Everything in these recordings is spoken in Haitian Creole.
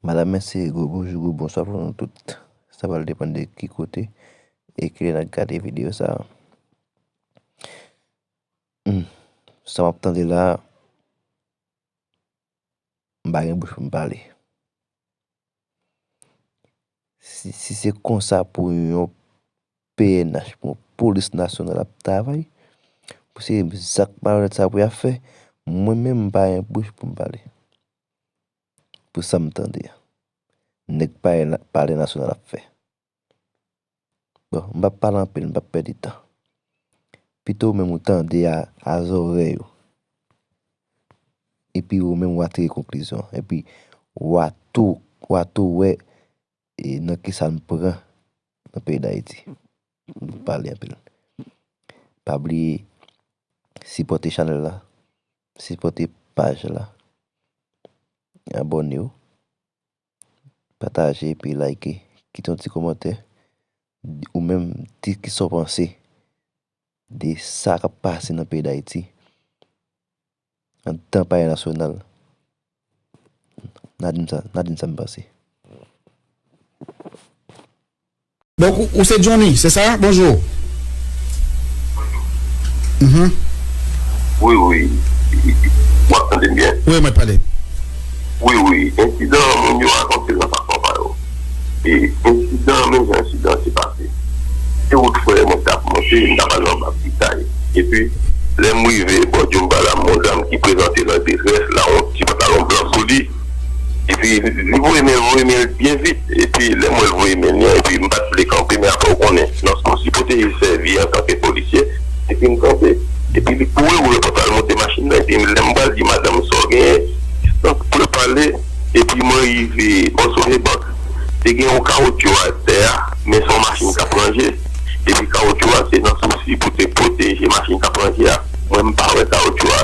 Madam mèsi e gwo bonjou gwo bonswa pou nou tout. Sa pral depann de ki kote e kilè nap gade videyo sa a. Sa wap tande la a, m pa gen bouch pou m pale. Si se konsa pou yon pnh, pou yon polis nasyonal ap travay, pou se zak malonèt sa pou y ap fè, mwen menm m pa gen bouch pou m pale. Pou sa m tande. Nèk palè nasyonal ap fè. Bon, m pap pale anpil, m pap pèdi tan. Pito ou menm ou tande a zorèy ou. Epi ou menm ou a tire konklizyon. Epi ou a tou, ou a tou wè nan ki sa nou pran nan peyi Dayiti. M pap pale anpil. Pa bliye sipòte chanèl la, sipòte paj la, abòne ou. Pataje epi like. Kite yon ti komantè. Ou menm, di ki sa w panse de sa k ap pase nan peyi Dayiti anndan palè nasyonal. N a di m sa m panse. Donk ou se Johnny se sa? Bonjou. Bonjou. Wi wi. W ap tande m byen? Wi mwen ap tande. Wi wi. Ensidan an moun yo rakonte l nan fason pa yo. E ensidan an menm jan ensidan an te pase. Se wout fwè mwen te ap monte, m ta pral nan bak Pitay. Epi lè m rive bò Djoumbala m wè yon dam ki prezante nan detrès, lawont, ti pantalon blan sou li. Epi li voye men l voye men l byen vit epi lè m wè l voye men li an epi m pat vle kanpe men aprè ou konnen nan sa w sipoze sèvi antanke polisye epi m kanpe epi li kouri ouvè pòt la l monte machin nan epi lè m pral di madanm sa w genyen distans pou yo pale epi mwen rive bò Sogebank te gen yon kawotchou atè a men se yon machin k ap ranje epi kawotchou a se nan sousi pou te pwoteje machin k ap ranje a. Mwen m pa wè kawoutchou a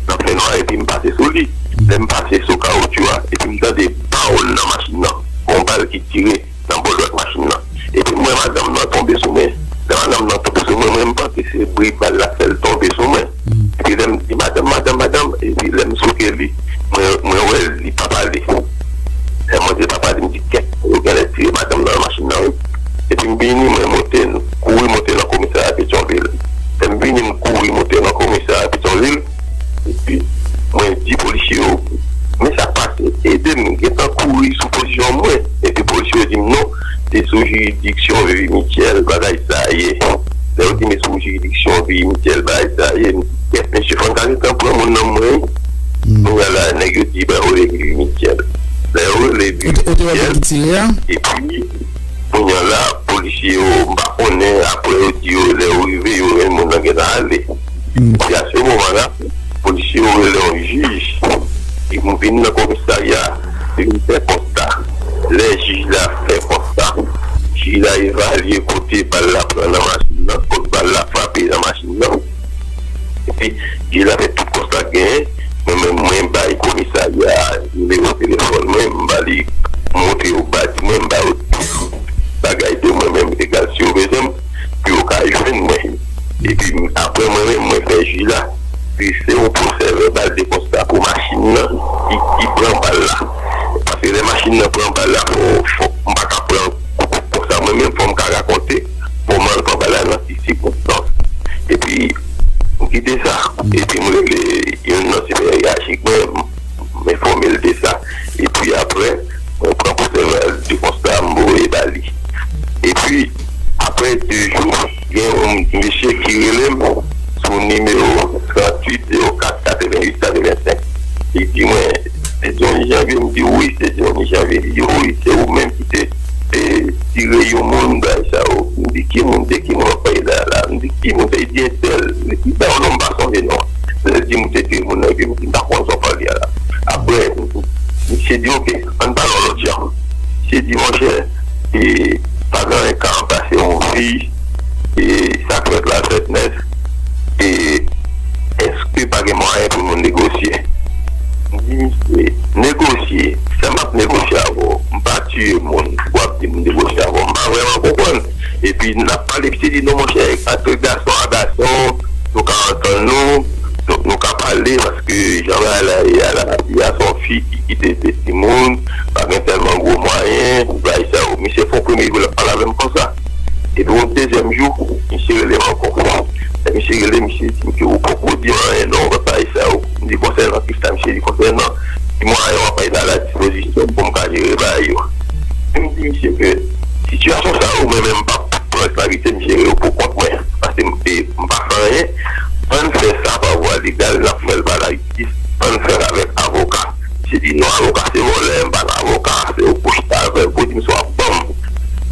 nan fènwa epi m pase sou li. Lè m pase sou kawoutchou a epi m tande paw nan machin nan, gon bal ki tire nan bò dwat machin nan. Epi m wè madanm nan tonbe sou mwen. Lè madanm nan tonbe sou mwen, mwen m panse se bri bal la fè l tonbe sou mwen. Epi lè m di madanm, madanm, madanm, epi lè m souke li, mwen wè li pa pale. Lè mwen di papa li m di kèt, yo genlè tire madanm nan nan machin nan wi. Epi m vini mwen monte, kouri monte nan komisarya petyonvil. M vini m kouri moute nan komisarya Petyonvil epi mwen di polisye yo men sak pase ede m gentan kouri sou pozisyon mwen epi polisye yo di m non se sou jiridiksyon Vivi Michel bagay sa ye lè yo di m se sou jiridiksyon Vivi Michel bagay sa ye m di kèt mesye fò n ta gentan pran moun nan men mwen kounya la nèg yo di rele Vivi Michel lè yo rele Vivi Michel epi. Kounya la polisye yo m pa konnen aprè yo di yo lè yo rive yo wè moun nan gentan ale epi a se moman la polisye yo rele yon jij ki vin nan komisarya li vin fè konsta lè jij la fè konsta jij la evalye kote bal la pran nan machin nan kot bal la frape nan machin nan. Epi li la avèk tout kòb sak genyen, mwen menm mwen bay komisarya a nimewo telefòn mwen, m ba li m montre yo badj mwen, m ba yo tout bagay de mwen menm egal si yo bezwen m pou yo ka jwenn mwen. Epi aprè mwen menm mwen fè ji la, si se yon pwosè vèbal de konsta pou machin nan ki pran bal la, paske lè machin nan pran bal la fò m pa ka pran kou konsa mwen menm fò m ka rakonte. Bon mal pa bay la nan ki sikonstans epi m kite sa epi m rele youn nan siperyajik mwen m enfòme l de sa epi aprè mwen pran pwosèval de konsta m voye ba li epi aprè de jou gen youn mesye ki rele m sou nimewo 38 04 88 85 li di mwen. Se Johnny Janvier m di wi se Johnny Janvier li di wi se ou menm ki te tire yon moun bagay sa yo m di ki moun de ki moun wap pale la la m di ki moun sa li di entèl li bay yon non m pa sonje non an lè l di m ou te tire moun nan epi m di m pa konn sa wap pale a la aprè misye di ok ann pale yon lòt jan misye di monchè e pa gen anyen k ka ranplase yon vi e sa k fèt la fèt nèt e eske pa gen mwayen pou nou negosye? M di misye, negosye? Sa m ap negosye avè w? M pa tiye moun pou w ap di m negosye avè w? M pa vrèman konprann. Epi n ap pale, misye di non monchè, antre gason a gason, nou ka antann nou, nou ka pale paske jan bagay la ye a, lavi a se yon fi ki kite de timoun, pa gen tèlman gwo mwayen pou bay sa yo. Misye fè yon premye kou l ap pale avè m konsa. Epi yon dezyèm jou, misye rele m ankò. Lè misye rele, misye di m ke ou poko di anyen non ou paka al sa yo. M di konsènan ki sa? Misye di konsènan ti mwayen w ap mete a la dispozisyon m pou m ka jere bagay yo. Epi m di misye ke sitiyasyon sa yo mwen menm m pa ka pran responsabilite m jere yo pou kont mwen paske m pa fè anyen. Ann fè sa pa vwa legal, n ap fè l pa lajistis, ann fè l avèk avoka. Misye di non avoka se vòlè, m pa nan avoka, se ou pou w chita avè m pou w di m sa w ap ban m.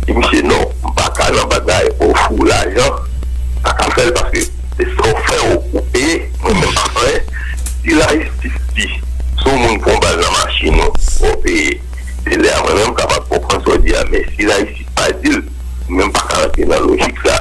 Di misye non m paka nan bagay ofri w lajan m paka fè l paske se sa w fè ou peye mwen menm m pa fè anyen si lajistis di si w moun pran bal nan machin ou fò w peye se lè a mwen menm m kapab konprann sa w di a men si lajistis pa di l mwen menm m paka rantre nan lojik sa.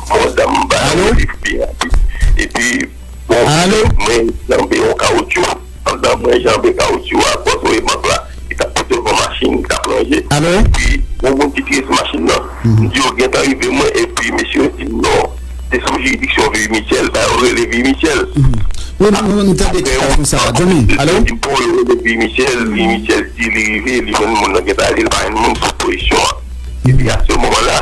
Bon dam ba nou refri a tou. Epi bon mwen janbe yon kawoutchou. Pandan mwen janbe kawoutchou a bò toye bank la ki tap pote yon machin ki tap ranje. Epi yon moun ki piye sou machin nan. M di yo gentan rive mwen epi mesye yo di m non se sou jiridiksyon Vivi Michel sa yo rele Vivi Michel. Apre m tande ti kay konsa. Yo di m pou yo rele Vivi Michel. Vivi Michel di li rive li jwenn moun nan gentan ale li pa jwenn moun sou pozisyon an. Epi a se moman la.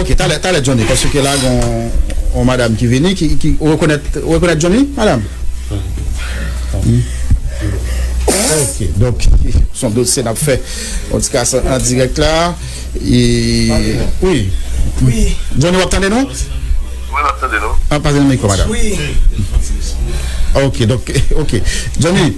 Ok talè talè Johnny paske ke la gon on madam ki vini ki ki ou rekonèt ou rekonèt Johnny madam? Ok donk son dosye nap fè on ti kas an dirèk la e wi Johnny wap tande nou? Wi map tande nou. Pale nan mikro madam. Ok donk ok Johnny.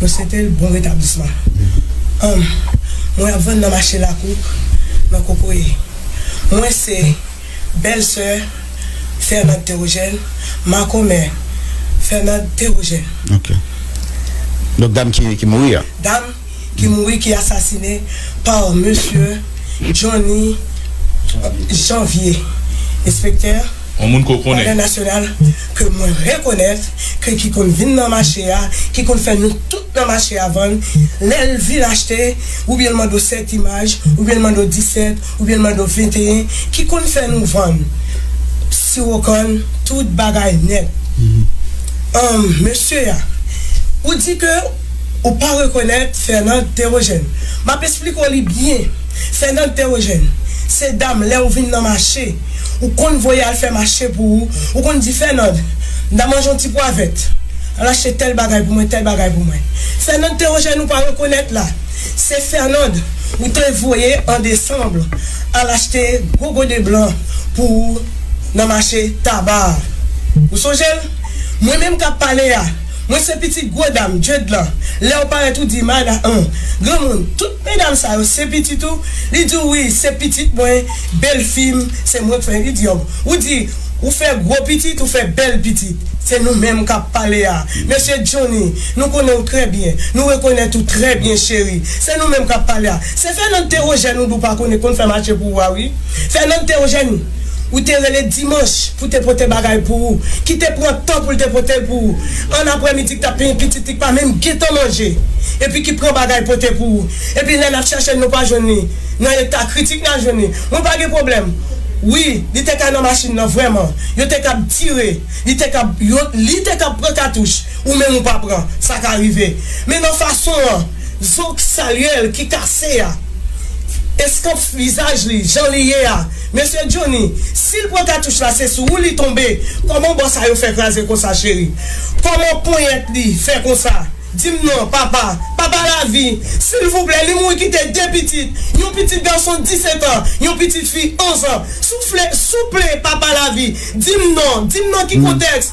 Mwen swete l bon retablisman. Humm mwen ap vann nan mache lakou nan kokoye mwen se bèl sè Fernand Theogène makomè Fernand Theogène. Ok. Donk dam ki mouri a. Dam. ki mouri ki asasine pa mesye Johnny Janvier enspektè Wadèn Nasyonal ke mwen rekonèt ke ki konn vin nan mache a ki konn fè nou tout nan mache a vann lè l vin achte oubyen l mande w 7 imaj oubyen l mande w 17 oubyen l mande w 21 ki konn fè nou vann siwo kann tout bagay nèt humm mesye a ou di ke Ou pa rekonèt Fernande Théogène. M ap esplike w li byen. Fernande Théogène, se dam lè ou vin nan mache, ou konn voye al fè mache pou ou, ou konn di Fernande, m ta manje yon ti pwa vèt, al achte tèl bagay pou mwen, tèl bagay pou mwen. Fernande Théogène ou pa rekonèt la, se Fernande ou te voye an desanm al achte gwo gode blan pou ou nan mache Taba a. Ou sonje l? Mwen menm k ap pale a, Mwen se pitit gwo dam Jade lan lèw parèt ou di Marla an granmoun tout medam sa yo se pitit ou li diw wi se pitit mwen belfim se mwen k fè li diw ou di ou fè gwo pitit ou fè bèl pitit se nou menm kap pale a mesye Johnny nou konnen ou trè byen nou rekonèt ou trè byen cheri se nou menm kap pale a se Fernand te rejèn ou di ou pa konnen konn fè mache pou ou a wi Fernand te rejèn ou te rele dimanch pou te pote bagay pou ou, ki te pran tan pou l te pote l pou ou, ann aprèmidi ki t ap penyen pitit li k pa menm gentan manje, epi ki pran bagay pote pou ou, epi lè n ap chèche l nou pa jwenn li, nan eta kritik nan jwenn li, mwen pa gen pwoblèm. Wi, li te ka nan machin nan vrèman, yo te kab tire, li te kab, yo, li te kab pran katouch, ou menm ou pa pran, sa ka rive. Men nan fason an. Zo k salye l ki kase a. Eskanp vizaj li jan li ye a. Mesye Johnny, si l pran katouch la se sou ou li tonbe, kòman bò sa yo fè kraze konsa cheri? Kòman ponyèt li fè konsa? Di m non, papa. Papa Lavi, silvouplè li mouri kite 2 pitit, yon pitit gason 17 an, yon pitit fi 11 an. Soufle, souple papa Lavi, di m non, di m nan ki kontèks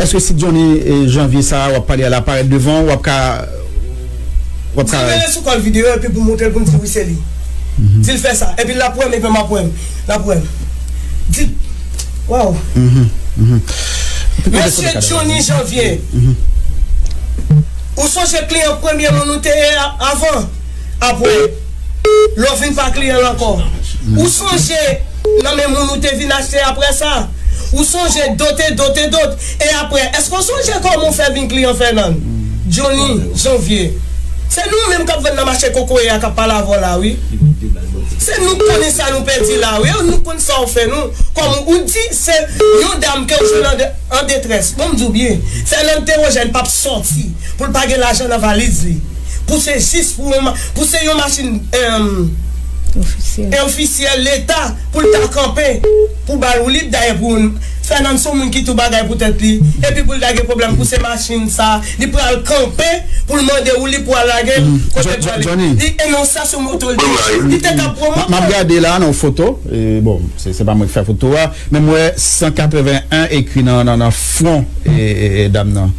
Eske si Johnny janvier sa a wap pale a la parèt devan ou wap ka wap ka. Dil mele sou kòl video epi pou moutrel poum di wi se li dil fè sa epi lap wèm epi map wèm lap wèm di waww mesye Johnny janvier ou sonje kliyan premye moun ou te ye a avan apre. Lè w fin pa kliyan l ankò, ou sonje nan men moun ou te vin achte apre sa? Ou sonje dot e dot e dot? E apre, èske w sonje kòman ou fè vin kliyan Fènand? Joni, Janvye, Se nou menm k ap vann nan mache kokoye a k ap pale avè w la wi. Se nou k konnen sa nou pèdi la wi. Nou konn sa w fè nou. Kòm ou di se yon dam ke w jwenn an detrès. Bon m di w byen, Fènand Tewojèn p ap sòti pou l pa gen lajan nan valiz li. pou se jis pou yon pou se yon machin en ofisyèl leta pou l ta kanpe pou bal woulib dayè pou yon Fènan son moun ki tou bagay pou tèt li epi pou l ta gen pwoblèm pou se machin sa li pral kanpe pou l mande woulib pou al lage l kote pral li e non sa son moto l te li te ka pran moto map gade la yon foto bon se pa mwen ki fè foto a men m wè 181 ekri nan fwon dam nan.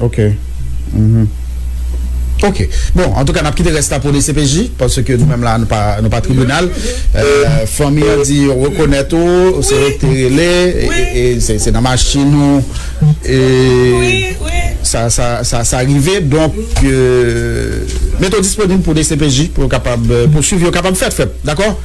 Ok uhmm ok bon antouka nap kite rès la pou dcpj paske nou menm la nou pa tribinal fanmi an di yo rekonèt ou se yo te rele e se nan machin ou sa sa rive donk mete w disponib pou dcpj pou yo kapab pouswiv yo kapab fèt fèt dakò.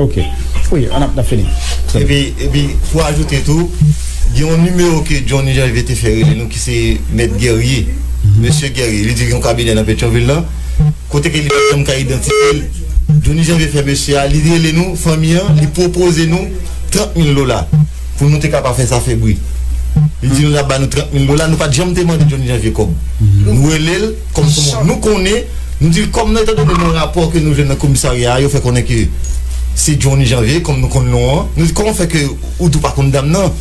Ok Wi an ap fini Epi pou ajoute tou Gen yon nimewo ke Johnny Janvier te fè rele nou ki se Mèt Guerrier Mesye Guerrier Li diri yon kabinè nan Petyonvil lan Kote ke li pa janm ka idantifye l Johnny Janvier fè mesye a Li rele nou fanmi an Li pwopoze nou 30 mil dola Pou nou te ka pa fè sa fè bri Li di nou l ap ba nou 30 mil dola Nou pa t janm te mande Johnny Janvier kòb Nou rele l Kòm nou konnen, nou di l kòm nan etan done nan rapò ke nou jwenn nan komisarya a yo fè konnen ke se Johnny Janvier kòm nou konn non an. Nou di kòman fè ke ou di ou pa konn dam nan?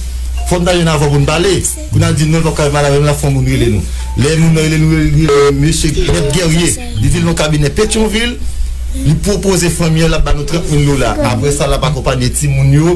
Fò n ta jwenn avan pou n pale. Kou n a di non l pa pou ka madanm nan la fò moun rele nou. Lè moun nan rele nou li rele nou mesye Mèt Guerrier. Li di l nan kabinè Petyonvil. Li pwopoze fanmi an l ap ba nou 30 mil dola. Apre sa l ap akonpanye timoun yo.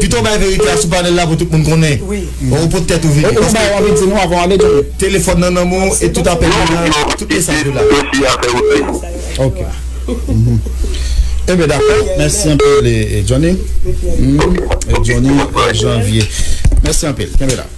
Pito w bay verite a sou panèl la pou tout moun konnen. Ou pot tèt ou vini. Ou bay wap vin di nou avan wap detounen. Telefòn nan nan men w e tout apèl yo la, tout mesaj yo la. Ok. Enben dakò. Mèsi anpil Johnny. Johnny Janvier. Mèsi anpil. Kenbe la.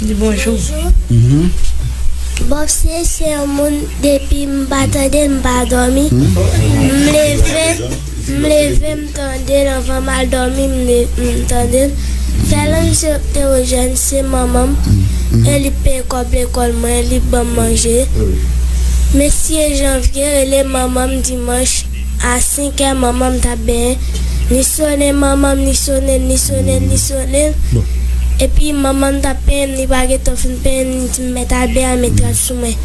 Di bonjou. Bob si se yon moun depi m pa tande l m pa domi m leve m leve m tande l anvan m al domi m tande l fè lang se ewojen se manman m e li k peye kob lekol mwen li k banm manje mesi e janvye rele manman m dimanch. A senkè manman m t ap benyen Li sone manman m Li sone l Li sone l Li sone l Epi manman m t ap penyen m Li pa gentan fin penyen m Li di m mèt Albè a met rad sou mwen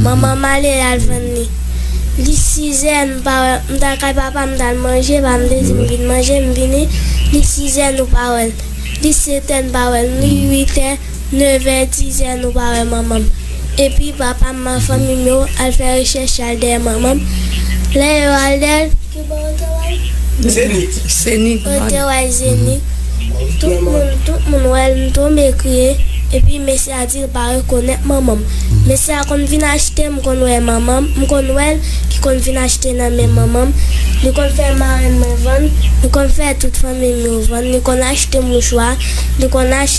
Manman m ale l al vann li Li sizè nou pa wè l M t al kay papa m m t al manje Papa m te di m vin manje M vini Li sizè nou pa wè l Li setè n pa wè l Li uitè Nevè, dizè nou pa wè manman m. Epi papa m ak fanmi m yo al fè rechèch y al dèyè manman m. Lè yo al dèyè l, ki bò yo te wè l? Zenit. Yo te wè l Zenit. Tout moun wè l, m tonbe kriye. Epi mesye a di l pa rekonèt manman m. Mesye a konn vin achte, m konn wè manman m, m konn wè l ki konn vin achte nan men manman m. Li konn fè marenn mwen vann, li konn fè tout fanmi m yo vann, li konn achte mouchwa, li konn achte.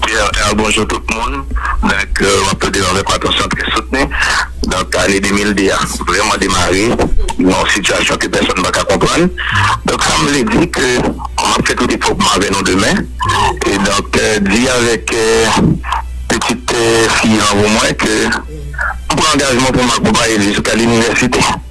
Trr bonjou tout moun donk wap tande yo avèk atansyon trè soutni donk ane 2002 a vrèman demare nan yon sitiyasyon ke pèsòn paka konprann donk sam vle di ke map fè tout efò pou m avè nou demen e donk di avèk pitit fi lanmou mwen ke m pran angajman pou m akonpaye l jiska linivèsite.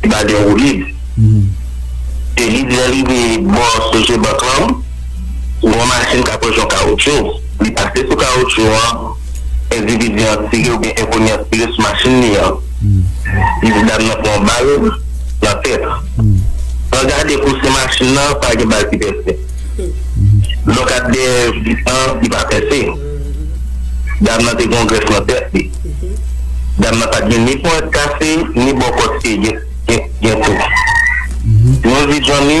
Li pa gen woulib. E li di lè li rive bò Sogebank lan, gen yon machin k ap rejon kawoutchou. Li pase sou kawoutchou an, endividi an tire oubyen enkoni an tire sou machin li an. Li di dam nan pran yon bal nan tèt. Pran gade kou se machin nan, pa gen bal ki pèse. Lòk ap dèyè vit lan, li pa pèse. Dam nan te gen yon grèf nan tèt li. Dam nan pat gen ni ponyèt kase ni bòkòt ke gen tou. Nou di Johnny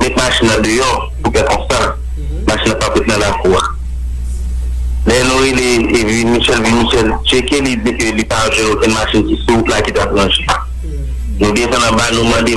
met machin nan deyò pou kè konsa machin nan pap ret nan lakou a. Lè nou rele vin Michel vin Michel tcheke li di ke li pa jwenn okenn machin ki sou wout la ki tap ranje. Nou desann anba nou mande.